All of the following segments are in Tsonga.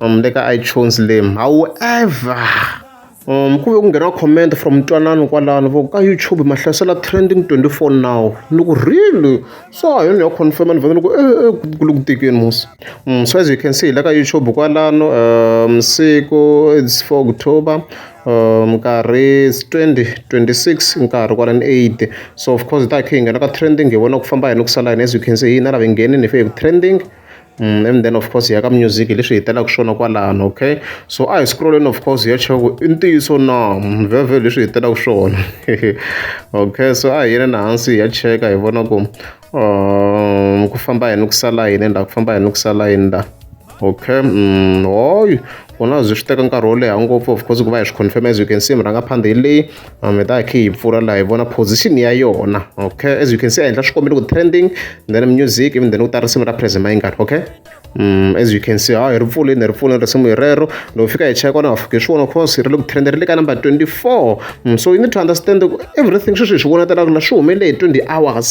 um le ka iTunes le however um ku ve ku nghena comment from ntwanano kwalano vo ka YouTube ma hlasela trending 24 now ni ku really so ha yona yo confirm ni vhele ni ku e eh, eh, ku le ku tekeni musi um so as you can see hi le ka YouTube kwalano um siku it's 4 October um nkarhi 20 26 nkarhi kwala ni 8 so of course hi ta khe hi nghena ka trending hi vona ku famba yini ku sala yini as you can see hina lava hi nghenini hi fe hi ku trending and then of course hi ya ka music hi leswi hi hetelelaka swona kwalano okay so a hi scroll-eni of course hi ya chava ku i ntiyiso na vhevhe leswi hi hetelelaka swona okay so a hi yeleni hansi hi ya cheka hi vona ku um ku famba yini ku sala yini laha ku famba yini ku sala yini laha okay mm, hoy ku na byi swi teka nkarhi wo leha ngopfu of course ku va hi swi confirm as you can see murhangaphandha hi leyi um, mi ta hi khe hi pfula laha hi vona position ya yona okay as you can see a endla swikombelo ku trending then music even then ku ta risimu ra present mayingani okay Mm, as you can see ha hi ri pfuleni hi ri pfuleni risimu hi rero loko fika hi cheka na fika hi swi vona course hi ri le ku trenda ri le ka number 24 mm, so you need to understand everything sweswi hi swi vonatela ku la swi humele hi 20 hours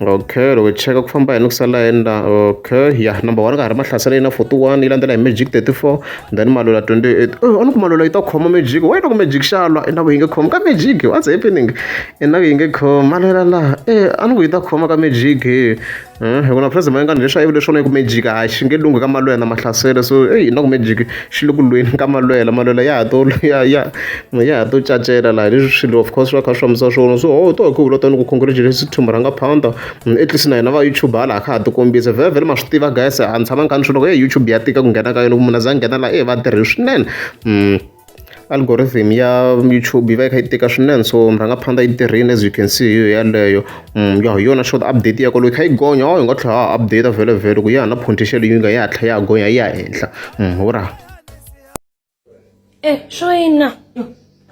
okay loko hi cheka ku famba hi ni ku sala endla okay ya number one ka ha ri mahlasela yi na 41 yi landzela hi magic 34 then malula 28 oh a ni ku malula yi ta khoma magic wa yi loko magic xalwa i na ku yi nge khoma ka magic what's happening i na ku yi nge khoma malula laha e a ni ku yi ta khoma ka magic hi ku na president mayengani leswi a yi vule swona yi ku magic a xi nge lunghi ka malula na mahlasela so eyi na ku magic Xi le ku lweni ka malwela, malwela ya ha to ya ya ya ha to cacela laha leswi swilo of course swi va kha swi fambisa swona. So ho to hi ku vula tona ku congratulations to Murhangwa Pandor, at least na hina va YouTube hala a kha ha ti kombisa. Vhele ma swi tiva guys a ni tshamangi kha ni swi vula ku heyi YouTube ya tika ku nghena ka yona, ku munhu a za a nghena laha va tirhe swinene. algorithm ya YouTube yi va yi kha yi tika swinene so mi rhanga phanda yi tirhini as you can see yo yaleyo mm, ya hi yona short update ya ko loyi kha yi gonya o hi nga tlhela ha update vhele vhele ku ya na potential yi nga ya tlha ya gonya ya henhla mm, ura eh shoyina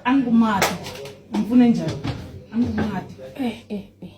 angumati mpfune njhani angumati eh eh, eh.